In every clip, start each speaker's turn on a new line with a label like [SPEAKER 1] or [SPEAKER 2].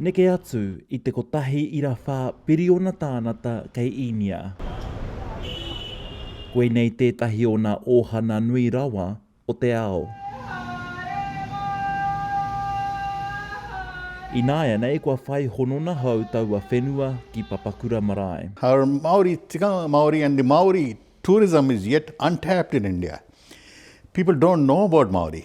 [SPEAKER 1] Neke atu i te kotahi ira whā piriona tānata kei Īnia. Koinei tētahi o nā ōhana nui rawa o te ao. Ināianei kua whai honona hou taua whenua ki Papakura marae. Our Māori
[SPEAKER 2] tikanga Māori and the Māori tourism is yet untapped in India. People don't know about Māori.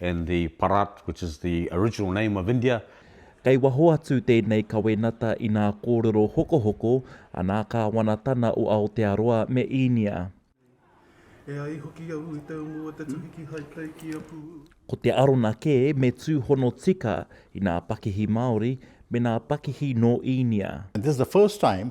[SPEAKER 3] and the Bharat, which is the original name of India. Kei waho
[SPEAKER 1] atu tēnei kawenata i nā kōrero hokohoko a nā Kāwanatana o Aotearoa me Īnia. E ai hoki au i te umu o te tuhi kihai kei ki a Pū. Ko te arona kē me tūhono tika i nā pakihi Māori me nā pakihi nō Īnia. This is the first time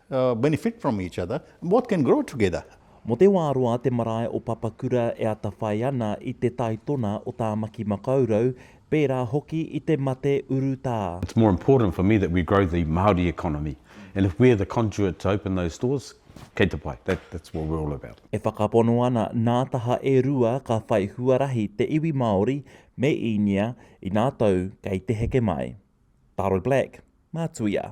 [SPEAKER 2] benefit from each other, both can grow together. Mo te wā roa
[SPEAKER 1] te marae o Papakura e atawhai ana i te taitona o Tāmaki Makaurau, pērā hoki i te mate urutā. It's more important for me
[SPEAKER 3] that we grow the Māori economy and if we're the conduit to open those doors, kei te pai, that's what we're all about. E whakapono ana
[SPEAKER 1] nā taha e rua ka whai huarahi te iwi Māori me Īnia inā tou kei te heke mai. Taro Black, Mā Tuia.